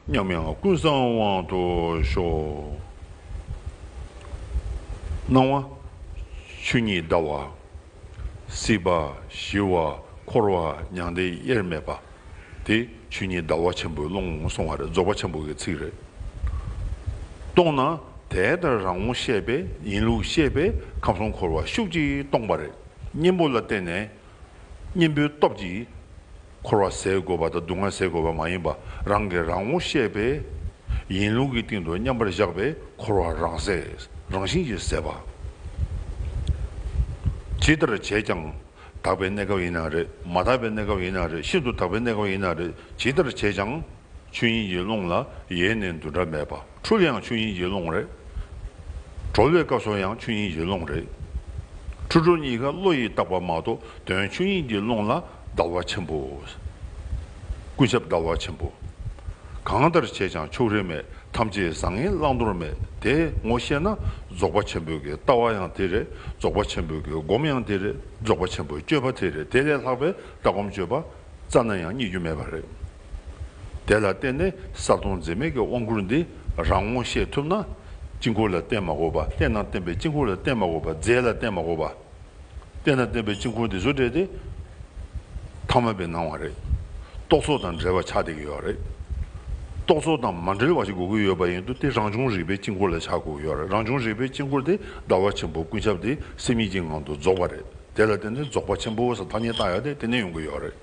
མཉམ་ཡང་ཀུན་བཟང་དབང་དུ་ཤོག། སྣང་བ་ཆོས་ཉིད་ཟླ་བ། སྲིད་པ་ཞི་བ་འཁོར་བ་མྱང་འདས་དབྱེར་མེད་པ། དེ་ཆོས་ཉིད་ཟླ་བ་ཆེན་པོའི་ཀློང་སོང་བ་རེད་རྫོགས་པ་ཆེན་པོ་གི་ཚིག་རེད། སྟོང་ན་དེ་ལྟར་རང་ངོ་ཤེས་པས་ཡིན་ལུགས་ཤེས་པས་ཁམས་གསུམ་འཁོར་བ་ཤུགས་ཀྱིས་སྟོངས་པ་རེད། གཉེན་པོ་ལ་བརྟེན་ནས་གཉེན་པོའི་སྟོབས་ཀྱིས། འཁོར་བ་ཟད་དགོས་པ་དང་སྡུག་བསྔལ་ཟད་དགོས་པ་མ་ཡིན་པ་རང་གིས་རང་ངོ་ཤེས་པས། ཡིན་ལུགས་ཀྱི་སྟེང་དུ་མཉམ་པར་བཞག་པས་འཁོར་བ་རང་ཟད་རང་བཞིན་གྱིས་ཟད་པ། ཇི་ལྟར་བྱས་ཀྱང་དག་པའི་གནས་སྐབས་ཡིན་ན་རེད་མ་དག་པའི་གནས་སྐབས་ཡིན་ན་རེད་ཤིན་ཏུ་དག་པའི་གནས་སྐབས་ཡིན་ན་རེད་ཇི་ལྟར་བྱས་ཀྱང། ཆོས་དབྱིངས་ཀྱི་ཀློང་ལ་ཡེ་ནས་འདུ་འདྲ་མེད་པ་འཁྲུལ་ཡང་ཆོས་དབྱིངས་ཀྱི་ཀློང་རེད། གྲོལ་བའི་སྐབས་སུ་ཡང་ཆོས་དབྱིངས་ཀྱི་ཀློང་རེད། འཁྲུལ་གྲོལ་གཉིས་ཀ་བློ་ཡིས་བརྟགས་པ་མ་གཏོགས་དོན་ཆོས་དབྱིངས་ཀྱི་ཀློང་ལ་ཟླ་བ་ཆེན་པོ། ཀུན་ཁྱབ་ཟླ་བ་ཆེན་པོ། གང་ལྟར་བྱས་ཀྱང་ཕྱོགས་རིས་མེད་ཐམས་ཅད་བཟང་ངན་བླང་དོར་མེད་དེ་ངོ་ཤེས་ན་རྫོགས་པ་ཆེན་པོའི་ལྟ་བ་ཡང་དེ་རེད་རྫོགས་པ་ཆེན་པོའི་སྒོམ་ཡང་དེ་རེད་རྫོགས་པ་ཆེན་པོའི་སྤྱོད་པ་དེ་རེད་དེ་ལས་ལྷག་པའི་ལྟ་སྒོམ་སྤྱོད་པ་རྩ་ན་ཡང་རྙེད་རྒྱུ་མེད་པ་རེད། དེ་ལ་བརྟེན་ནས་གསར་གཏོང་འཛིན་མེད་ཀྱི་དབང་བསྐུར་འདི་རང་ངོ་ཤེས་ཐུབ་ན། དཀྱིལ་འཁོར་ལ་བརྟེན་མ་དགོས་པ་བརྟེན་ན་བརྟེན་པའི་དཀྱིལ་འཁོར་ལ་བརྟེན་མ་དགོས་པ་རྫས་ལ་བརྟེན་མ་དགོས་པ། བསྟན་དང་བསྟན་པའི་དཀྱིལ་འཁོར་འདི་ཚོ་འདྲེས་ཏེ། ཐ་མལ་པའི་སྣང་བ་རེད། རྟོག་ཚོགས་དང་འདྲེས་པ་ཆགས་བསྡད་ཀྱི་ཡོད་རེད། རྟོག་ཚོགས་དང་མ་འདྲེས་པ་ཞིག་དགོས་ཀྱི་ཡོད་པ་ཡིན་དུས་དེ་རང་བྱུང་རིག་པའི་དཀྱིལ་འཁོར་ལ་ཆགས་དགོས་ཀྱི་ཡོད་རེད་རང་བྱུང་རིག་པའི་དཀྱིལ་འཁོར་དེ་ཟླ་བ་ཆེན་པོ་ཀུན་ཁྱབ་སྟེ་སེམས་ཉིད་ཀྱི་ངང་དུ་རྫོགས་པ་རེད་དེ་ལ་བརྟེན་ནས་རྫོགས་པ་ཆེན་པོ་ས་ཐ་སྙད་བཏགས་ཡོད་དེ་དེ་ནས་ཡོང་གི་ཡོད་རེད་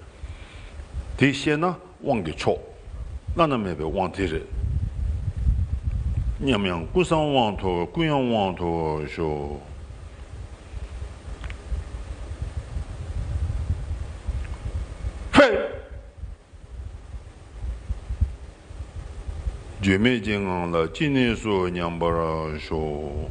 དེ་ཤེས་ན། དབང་གི་མཆོག། བླ་ན་མེད་པའི་དབང་དེ་རེད་སྙམ། ཡང་ཀུན་བཟང་དབང་ཐོབ་ཀུན་ཡོན་དབང་ཐོབ་ཤོག། བརྗོད་མེད་ཀྱི་ངང་ལ་ཅི་གནས་སུ་མཉམ་པར་ཤོག།